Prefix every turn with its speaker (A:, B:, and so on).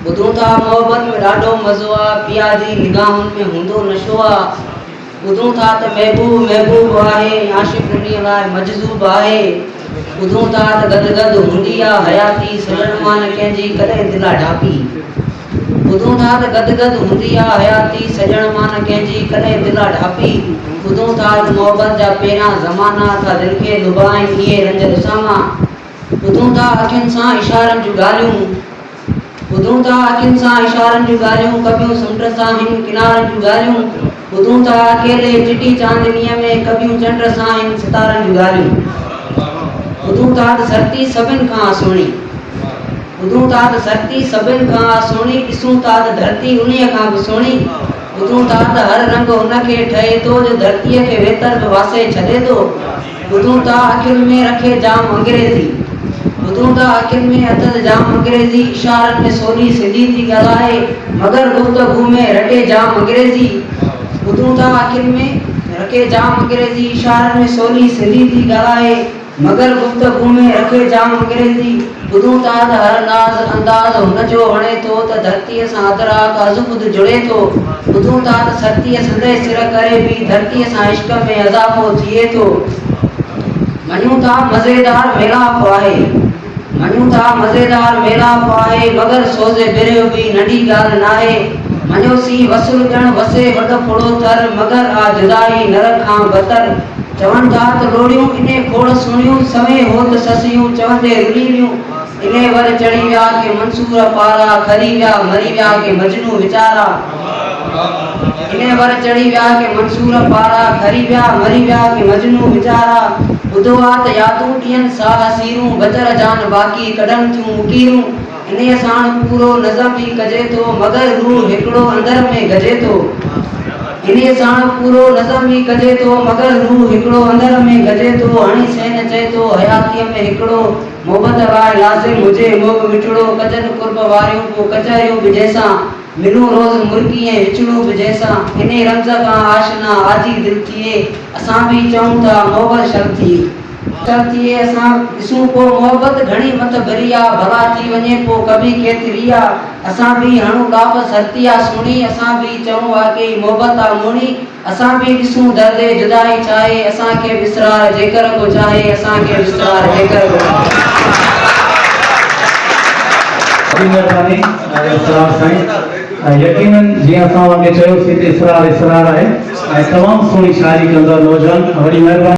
A: ٻڌو ٿا محبت ۾ ڏاڍو مزو آ پيا جي نگاهن ۾ هوندو نشو آ ٻڌون ٿا ته محبوب محبوب آهي عاشق انهي لاء مجذوب آهي ٻڌون ٿا ته گد گد هوندي آ حياتي سڄڻ مان نه ڪنهن جي ڪڏهن دل آ ڍاپي ٻڌون ٿا ته گد گد هوندي آ حياتي سڄڻ مان نه ڪنهن جي ڪڏهن دل آ ڍاپي ٻڌون ٿا ته محبت جا پهريان زمانا ٿا دل کي لڀائين اهي رنج رساما ٻڌون ٿا اکين سان اشارن جون ڳالهيون. ٻڌون ٿا اکين سان اشارن جون ڳالهيون ڪٻيون سمنڊ سان هن ڪنارن جون ڳالهيون ٻڌون ٿا اڪيلي چٽي چاندنيء ۾ ڪٻيون چنڊ سان هن ستارن جون ڳالهيون ٻڌون ٿا ته ڌرتي سڀن کان آ سهڻي ٻڌون ٿا ته ڌرتي سڀن کان آ سهڻي ڏسون ٿا ته ڌرتي انهيء کان به سهڻي ٻڌون ٿا ته هر رنگ ان کي ٺهي ٿو جو ڌرتيء کي ويتر به واسي ڇڏي ٿو ٻڌون ٿا اکين ۾ رکي جام انگريزي ٻڌون ٿا اکين ۾ اٿس جام انگريزي اشارن ۾ سولي سنڌي ٿي ڳالهائي مگر گفتگو ۾ رٽي جام انگريزي ٻڌون ٿا اکين ۾ رکي جام انگريزي اشارن ۾ سولي سنڌي ٿي ڳالهائي مگر گفتگو ۾ رکي جام انگريزي. ٻڌون ٿا ته هر ناز انداز هن جو هڻي ٿو ته ڌرتيء سان ادراڪ ازخود جڙي ٿو. ٻڌون ٿا ته سرتيء سنديء سر ڪري به ڌرتيء سان عشق ۾ اضافو ٿئي ٿو. مڃون ٿا مزيدار ميلاپ آهي. مڃون ٿا مزيدار ميلاپ آهي مگر سوز برهه به ننڍي ڳالهه ناهي. مڃيوسين وصل ڄڻ وسي وڏ ڦڙو ٿر مگر آ جدائي نرڪ کان بتر. چون ٿا ته لوڙيون اني کوڙ سهڻيون، سوين هو ته سسيون چوندي رلي ويون. اني ور چڙهي ويا ڪي منصور پارا، کري ويا مري ويا ڪي مجنون ويچارا. اني ور چڙهي ويا ڪي منصور پارا، کري ويا مري ويا ڪي مجنون ويچارا. ٻڌو آ ته يادون ڏين ساهه سيرون، بچر جان باقي ڪڍن ٿيون مڪيرون. انهيء ساڻ پورو نظم به ڪجي ٿو، مگر هو هڪڙو اندر ۾ گهجي ٿو. انهيء ساڻ پورو نظم به ڪجي ٿو، مگر هو هڪڙو اندر ۾ گهجي ٿو. هڻي سين چئي ٿو، حياتيء ۾ هڪڙو محبت لاء لازم هجي، اهو به مٺڙو، ڪجن قرب واريون ڪو ڪچهريون به جنهن سان، ملون روز مرڪي ۽ وڇڙون به جنهن سان، انهيء رمز کان آشنا، آجي دل ٿئي، اسان به چئون ٿا، محبت شرم ٿئي. ته ٿئي اسان ڏسون پو محبت گهڻي مٿ ڀري آ ڀلا ٿي وڃي پو ڪبي کيتري آ اسان ڀي هڻون ڏاٻ سرتي آ سهڻي اسان ڀي چئون واقعي محبت آ موڻي اسان ڀي ڏسون درد جدائي ڇاهي اسان کي وسرار جيڪر ڪو چاهي اسان کي وسرار جيڪر ڪو وڏي مهرباني
B: اسرار سائين يقينن جيئن اسان اوهان کي چيوسين ته اسرار اسرار آهي ۽ تمام سهڻي شاعري ڪندڙ نوجوان وڏي مهرباني.